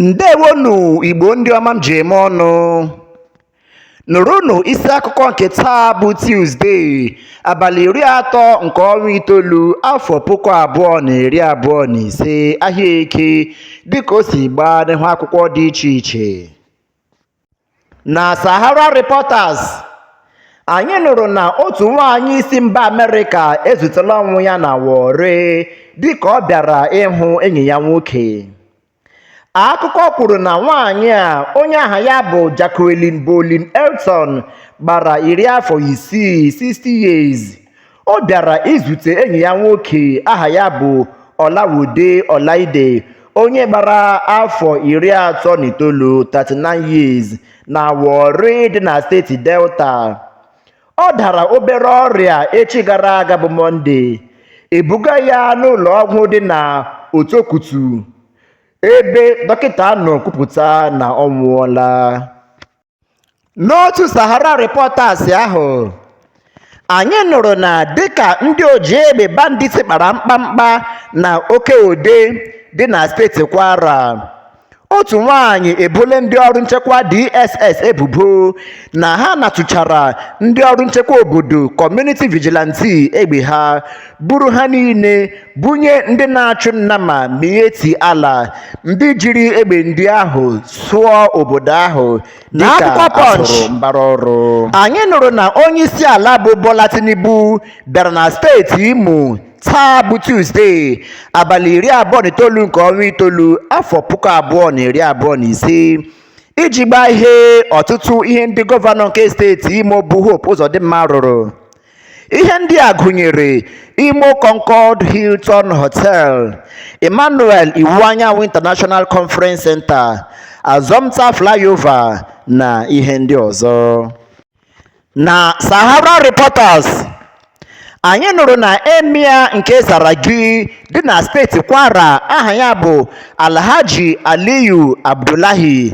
ǹdeèwonù ìgbò ndị ọma m jì ème ọnụ̄ nụ̀rụnụ̀ isi akụkọ ǹkè taa bụ Tuesday àbàlị ìri atọ ǹkè ọnwa itoolu afọ̀ puku àbụọ nà ìri àbụọ nà ìse ahịa eke dịkà o sì gbaa n'ihu akwụkwọ dị ichè ichè Na Sahara Reporters, anyị nụrụ na otu nwaanyị si mba Amerịka ezutela ọnwụ ya na Warri dịka ọ bịara ịhụ enyi ya nwoke. Akụkọ kwuru na nwaanyị a onye aha ya bụ Jacqueline Bolin Elton gbara iri afọ isii 60 years ọ bịara izute enyi ya nwoke aha ya bụ Olawode Olaide onye gbara afọ iri atọ na itoolu 39 years na Warri dị na steeti Delta ọ dara obere ọrịa echi gara aga bụ Mọnde ebuga ya n'ụlọ ọgwụ dị na Otokutu ebe dọkịta nọ kwupụta na ọ nwụọla N'otu Sahara Reporters ahụ, anyị nụrụ na dịka ndị oji egbe bandits kpara mkpamkpa na Oke Ode dị na steeti Kwara, otu nwaanyị ebole ndị ọrụ nchekwa DSS ebubo na ha natụchara ndị ọrụ nchekwa obodo Community Vigilante egbe ha, buru ha niile bunye ndị na-achụ nnama Miyetti Allah ndị jiri egbe ndị ahụ sụọ obodo ahụ dịka a sụrụ mbara ọrụ. N'akwụkwọ Punch, anyị nụrụ na onye isi ala bụ bola tinubu bịara na steeti imo taa bụ tuzdee abalị iri abụọ na itoolu nke ọnwa itoolu afọ puku abụọ na iri abụọ na ise iji gbahee ọtụtụ ihe ndị gọvanọ nke steeti imo bụ hope ụzọdịmma rụrụ Ihe ndị a gụnyere Imo Concorde Hilton Hotel, Emmanuel Iwuanyanwụ International Conference Center, Assumpta Flyover na ihe ndị ọzọ. Na Sahara Reporters, anyị nụrụ na Emir nke Tsaragi dị na steeti Kwara aha ya bụ Alhaji Aliyu Abdullahi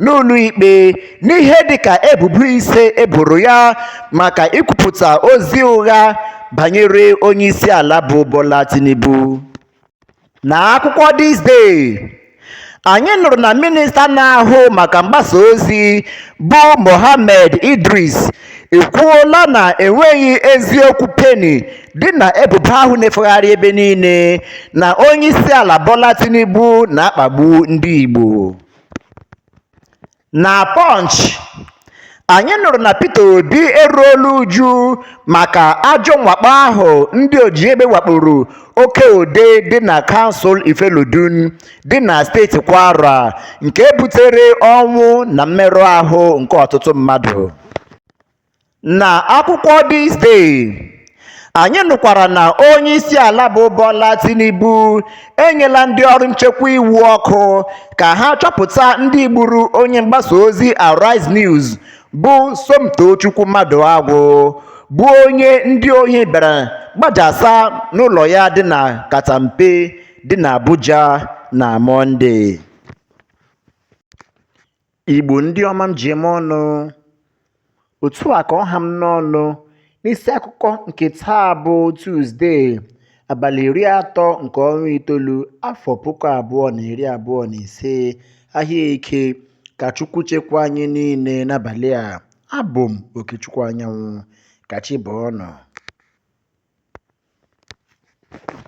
n'ụlọikpe n'ihe dịka ebubo ise e boro ya maka ikwupụta ozi ụgha banyere onyeisiala bụ Bola Tinubu. N'akwụkwọ This Day, anyị nụrụ na minista na-ahụ maka mgbasa ozi bụ Mohammed Idris ekwuola na enweghị eziokwu peni dị na ebubo ahụ na-efegharị ebe niile na onyeisiala Bola Tinubu na-akpagbu ndị Igbo. Na Punch, anyị nụrụ na Peter Obi eruola uju maka ajọ mwakpo ahụ ndị oji egbe wakporo Oke-Ode dị na kansụl Ifelodun dị na steeti Kwara nke butere ọnwụ na mmerụ ahụ nke ọtụtụ mmadụ. Na akwụkwọ This Day, anyị nụkwara na onye isi ala bụ Bola Tinubu enyela ndị ọrụ nchekwa iwu ọkụ ka ha chọpụta ndị gburu onye mgbasa ozi Arise News bụ Somtochukwu Maduagwu bụ onye ndị ohi bịara gbajasa n'ụlọ ya dị na Katampe dị na Abuja na Mọnde. Igbo ndị ọma m ji eme ọnụ otu a ka ọ ha m n'ọnụ n'isi akụkọ nke taa bụ Tuzdee abalị iri atọ nke ọnwa itoolu afọ puku abụọ na iri abụọ na ise ahịa Eke ka Chukwu chekwaa anyị niile n'abalị a abụ m Okechukwu Anyanwụ ka chi bọọ nụ